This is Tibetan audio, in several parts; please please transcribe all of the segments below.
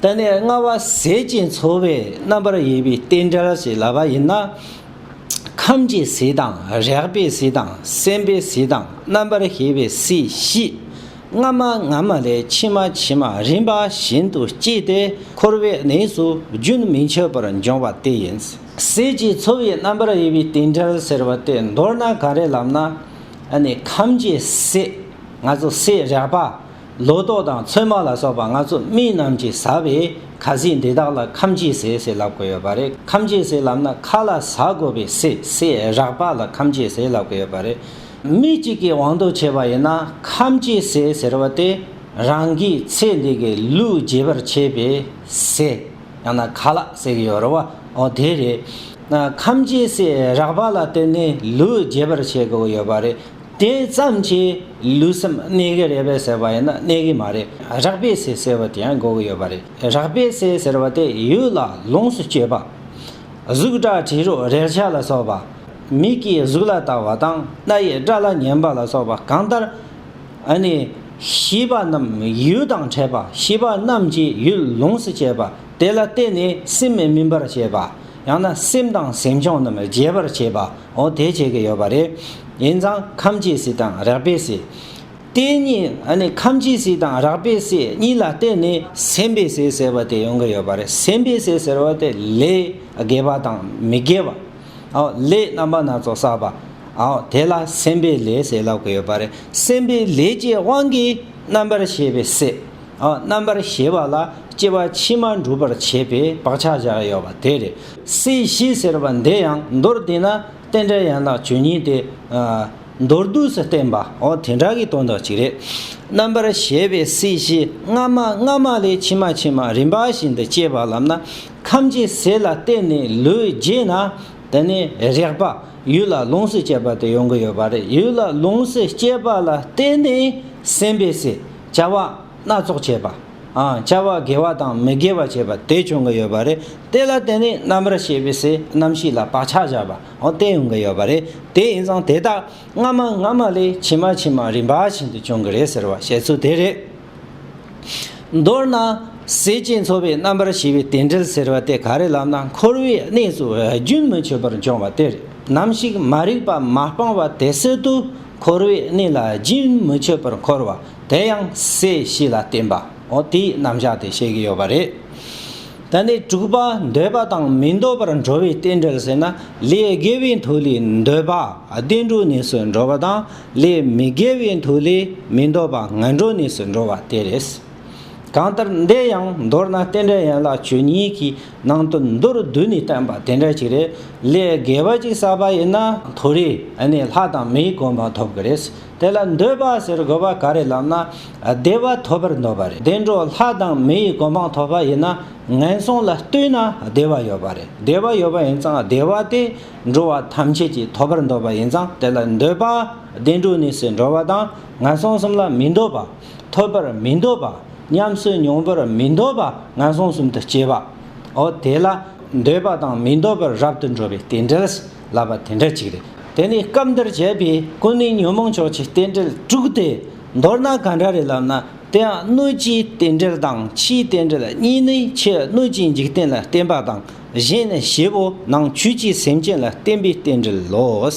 ད་ནི་སྔ་བ་ཟད་ཅིང་འཚོ་བའི་རྣམ་པར་དབྱེ་བའི་རྟེན་འབྲེལ་ཞེས་ལབ་པ་ཡིན་ན། ཁམས་ཀྱི་ཟས་དང་རེག་པའི་ཟས་དང་སེམས་པའི་ཟས་དང་རྣམ་པར་ཤེས་པའི་ཟས་བཞི། སྔ་མ་སྔ་མ་ལས་ཕྱི་མ་ཕྱི་མ་རིམ་པ་བཞིན་དུ་སྐྱེས་ཏེ་འཁོར་བའི་གནས་སུ་རྒྱུན་མི་འཆད་པར་འབྱུང་བ་དེ་ཡིན། ཟས་ཀྱི་འཚོ་བའི་རྣམ་པར་དབྱེ་བའི་རྟེན་འབྲེལ་ཟེར་བ་དེ་མདོར་ན་ག་རེ་ལབ་ན། ཨ་ནི་ཁམས་ཀྱི་ཟས། ང་ཚོ་ཟས་རེག་པ། ལོ་ཏོག་དང་ཚོད་མ་ལ་སོགས་པ་ལྔ་ཚོགས་མི་རྣམས་ཀྱིས་ཟ་བའི་ཁ་ཟས་འདི་དག་ལ་ཁམ་གྱི་ཟས་ཟེར་ལབ་དགོས་ཡོད་པ་རེད་ཁམ་གྱི་ཟས་ལབ་ན་ཁ་ལ་ཟ་དགོས་པའི་སྲིད་སྲི་རག་པ་ལ་ཁམ་གྱི་ཟས་ལབ་དགོས་ཡོད་པ་རེད། མི་གཅིག་གིས་དབང་དུ་བྱས་པ་ཡིན་ན་ཁམ་གྱི་ཟས་ཟེར་བ་དེ་རང་གིས་ཚེ་འདི་གི་ལུས་རྒྱས་པར་བྱེད་པའི་ཟས་ཡང་ན་ཁ་ལ་ཟེར་གྱི་ཡོད་རེད་བ་འོ་དེ་རེད། ཁམ་གྱི་ཟས་རག་པ་ལ་བརྟེན་ནས་ལུས་རྒྱས་པར་བྱེད་དགོས་ཡོད་པ་རེད། དེ་ཙམ་གྱིས་ལུས་སེམས་གནས་གི་རེད་པས་ཟེར་བ་ཡིན་ན་གནས་གི་མ་རེད་རག་པའི་ཟས་ཟེར་བ་དེ་ཡང་འགོག་གི་ཡོད་པ་རེད་རག་པའི་ཟས་ཟེར་བ་དེ་ཡུལ་ལ་ལོངས་སུ་སྤྱོད་པ། གཟུགས་སྒྲ་དྲི་རོ་རེག་བྱ་ལ་སོགས་པ། མིག་གིས་གཟུགས་ལ་ལྟ་བ་དང་སྣ་ཡིས་སྒྲ་ལ་ཉན་པ་ལ་སོགས་པ་གང་ལྟར། ཨ་ནི། ཤེས་པ་རྣམས་ཡུལ་དང་ཕྲད་པ་ཤེས་པ་རྣམས་ཀྱིས་ཡུལ་ལོངས་སུ་སྤྱད་པ་དེ་ལ་བརྟེན་ནས་སེམས་སྨིན་པར་བྱེད་པ། ཡང་ན་སེམས་དང་སེམས་བྱུང་རྣམས་རྒྱས་པར་བྱེད་པའོ། དེ་བྱེད་ཀྱི་ཡོད་པ་རེད། ཡིན་ཙང་ཁམས་ཀྱི་སྲིད་དང་རགས་པའི་སྲིད། དེ་གཉིས་ཁམས་ཀྱི་སྲིད་དང་རགས་པའི་སྲིད་གཉིས་ལ་བརྟེན་ནས་སེམས་པའི་སྲིད་ཟེར་བ་དེ་ཡོང་གི་ཡོད་པ་རེད། སེམས་པའི་སྲིད་ཟེར་བ་དེ་ལས་དགེ་བ་དང་མི་དགེ་བ། ལས་རྣམ་པ་སྣ་ཚོགས་བསགས་པ། དེ་ལ་སེམས་པའི་ལས་ཟེར་ལབ་ཀྱི་ཡོད་པ་རེད། སེམས་པའི་ལས་ཀྱི་དབང་གིས་རྣམ་པར་ཤེས་པའི་སྲིད། རྣམ་པར་ཤེས་པ་ལ་སྐྱེ་བ་ཕྱི་མ་འགྲུབ་པར་བྱེད་པའི་བག་ཆགས་བཞག་ཡོད་པ་དེ་རེད། སྲིད་ཞི་ཟེར་བ་འདི་ཡང་མདོར་བསྡུས་ན་རྟེན་འབྲེལ་ཡན་ལག་བཅུ་གཉིས་ཏེ། མདོར་བསྡུས་སུ་བསྟན་པའོ་དེ་འདྲ་གི་དོན་དག་ཅིག་རེད། རྣམ་པར་ཤེས་པའི་སྲིད་ཞི་སྔ་མ་སྔ་མ་ལས་ཕྱི་མ་ཕྱི་མ་རིམ་པ་བཞིན་དུ་སྐྱེ་བ་ལམ་ན་ཁམས་ཀྱི་ཟས་ལ་བརྟེན་ནས་ལུས་རྒྱས་ན་དེ་ནས་རེག་པ་ཡུལ་ལ་ལོངས་སུ་སྤྱད་པ་དེ་ཡོང་གི་ཡོད་པ་རེད་ཡུལ་ལ་ལོངས་སུ་སྤྱད་པ་ལ་བརྟེན་ནས་སེམས་པའི་སྲིད་བྱ་བ་སྣ་ཚོགས་བྱེད་པ། བྱ་བ་དགེ་བ་དང་མི་དགེ་བ་བྱེད་པ་དེ་བྱུང་གི་ཡོད་པ་རེད། དེ་ལ་བརྟེན་ནས་རྣམ་རིག་ཤེས་པའི་སའི་རྣམ་ཤེས་ལ་བག་ཆགས་བཞག་པ་དེ་ཡོང་གི་ཡོད་པ་རེད། དེ་ཡིན་ཙང་དེ་དག་སྔ་མ་སྔ་མ་ལས་ཕྱི་མ་ཕྱི་མ་རིམ་པ་བཞིན་དུ་བྱུང་གི་རེད་ཟེར་བ་བཤད་ཚུལ་དེ་རེད། མདོར་ན། ཟས་བཅས་འཚོ་བའི་རྣམ་པར་ཤེས་པའི་དེ་འབྲེལ་ཟེར་བ་དེ་ག་རེ་ལབ་ན་འཁོར་བའི་གནས་སུ་རྒྱུན་མི་ཆད་པར་འབྱུང་བ་དེ་རེད། ནམ་ཞིག་མ་རིག་པ་མ་སྤངས་པ་དེ་སྲིད་དུ། འཁོར་བའི་གནས་ལ་རྒྱུན་མི་ཆད་པར་འཁོར་བ་དེ་ཡང་སའི་གཤིས་ལ་བརྟེན་པའོ་དེའི་རྣམ་གཞག་དེ་བཤད་ཀྱི་ཡོད་པ་རེད། ད་ནི་དྲུག་པ་འདོད་པ་དང་མི་འདོད་པར་འགྲོ་བའི་རྟེན་འབྲེལ་ཟེར་ན་ལས་དགེ་བའི་མཐུ་ལས་འདོད་པ་བདེ་འགྲོའི་གནས་སུ་འགྲོ་བ་དང་ལས་མི་དགེ་བའི་མཐུ་ལས་མི་འདོད་པ་ངན་འགྲོའི་གནས་སུ་འགྲོ་བ་དེ་རེད། གང་ལྟར་འདི་ཡང་མདོར་ན་རྟེན་འབྲེལ་ཡན་ལག་བཅུ་གཉིས་ཀྱི་ནང་དུ་མདོར་བསྡུས་ནས་བསྟན་པ་དེ་འདྲ་ཞིག་རེད། ལས་དགེ་བ་ཅིག་བསགས་པ་ཡིན་ན་མཐོ་རིས་ནས་ལྷ་དང་མིའི་དགོངས་པ་ཐོབ་གི་རེད། དེ་ལ་འདོད་པ་ཟེར་དགོས་པ་ག་རེ་ལབ་ན། བདེ་བ་ཐོབ་པར་འདོད་པ་རེད། དེ་འདྲ་ལྷ་དང་མིའི་དགོངས་པ་ཐོབ་པ་ཡིན་ན་ངན་སོང་ལ་ལྟོས་ན་བདེ་བ་ཡོད་པ་རེད། བདེ་བ་ཡོད་པ་ཡིན་ཙང་བདེ་བ་དེ་འགྲོ་བ་ཐམས་ཅད་ཀྱིས་ཐོབ་པར་འདོད་པ་ཡིན་ཙང་དེ་ལ་འདོད་པ། བདེ་འགྲོ་གནས་སུ་འགྲོ་བ་དང་ངན་སོང་གསུམ་ལ་མི་འདོད་པ། ཐོབ་པར་མི་འདོད་པ། ཉམས་སུ་མྱོང་བར་མི་འདོད་པ་ངན་སོང་གསུམ་དུ་སྐྱེ་བའོ། དེ་ལ་འདོད་པ་དང་མི་འདོད་པར་རབ་ཏུ་འགྲོ་བའི་རྟེན་འབྲེལ་ལབ་པ་དེ་འདྲ་ཅིག་རེད། དེ་ནི་སྐབས་འདིར་བྱས་པའི་ཀུན་ནས་ཉོན་མོངས་ཕྱོགས་ཀྱི་རྟེན་འབྲེལ་དྲུག་སྟེ། མདོར་ན་ག་འདྲ་རེད་ལབ་ན་དེའང་སྣོད་ཀྱི་རྟེན་འབྲེལ་དང་ཕྱིའི་རྟེན་འབྲེལ་གཉིས་ནི་ཕྱི་སྣོད་ཀྱི་འཇིག་རྟེན་ལ་བརྟེན་པ་དང་གཞན་ནི་བྱེད་པོ་ནང་བཅུད་ཀྱི་སེམས་ཅན་ལ་བརྟེན་པའི་རྟེན་འབྲེལ་ལོ།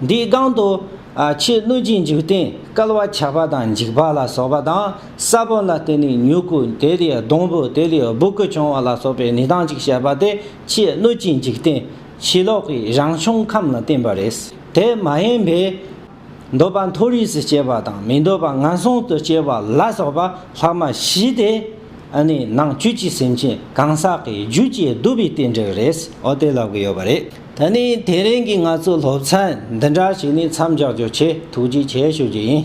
འདིའི་སྒང་དུ། ཕྱིའི་གནོད་སྦྱིན་འཇིག་རྟེན་སྐལ་བ་ཆགས་པ་དང་འཇིགས་པ་ལ་སོགས་པ་དང། ས་བོན་ལ་བརྟེན་ནས་མྱུ་གུ་དེ་ལས་སྡོང་བུ་དེ་ལས་སྦུ་གུ་བྱུང་བ་ལ་སོགས་པའི་ནི་དང་ཅིག་བཤད་པ་སྟེ་ཕྱིའི་གནོད་སྦྱིན་འཇིག་རྟེན་ཕྱི་ལོགས་ཀྱི་རང་བྱུང་ཁམས་ལ་བརྟེན་པ་རེད། དེ་མ་ཡིན་པའི། འདོད་པ་མཐོ་རིས་སུ་སྐྱེ་བ་དང་མི་འདོད་པ་ངན་སོང་དུ་སྐྱེ་བ་ལ་སོགས་པ་ལྷག་མ་བཞི་སྟེ། ནི་ནང་བཅུད་ཀྱི་སེམས་ཅན་གང་ཟག་གི་རྒྱུད་ཀྱི་བསྡུ་བའི་རྟེན་འབྲེལ་རེད། འོ་དེ་ལབ་གི་ཡོད་པ་རེད། ད་ནི་དེ་རིང་གི་ང་ཚོའི་སློབ་ཚན་འདི་འདྲ་ཞིག་ནི་མཚམས་འཇོག་རྒྱུ་ཆེད་ཐུགས་རྗེ་ཆེ་ཞུ་རྒྱུ་ཡིན།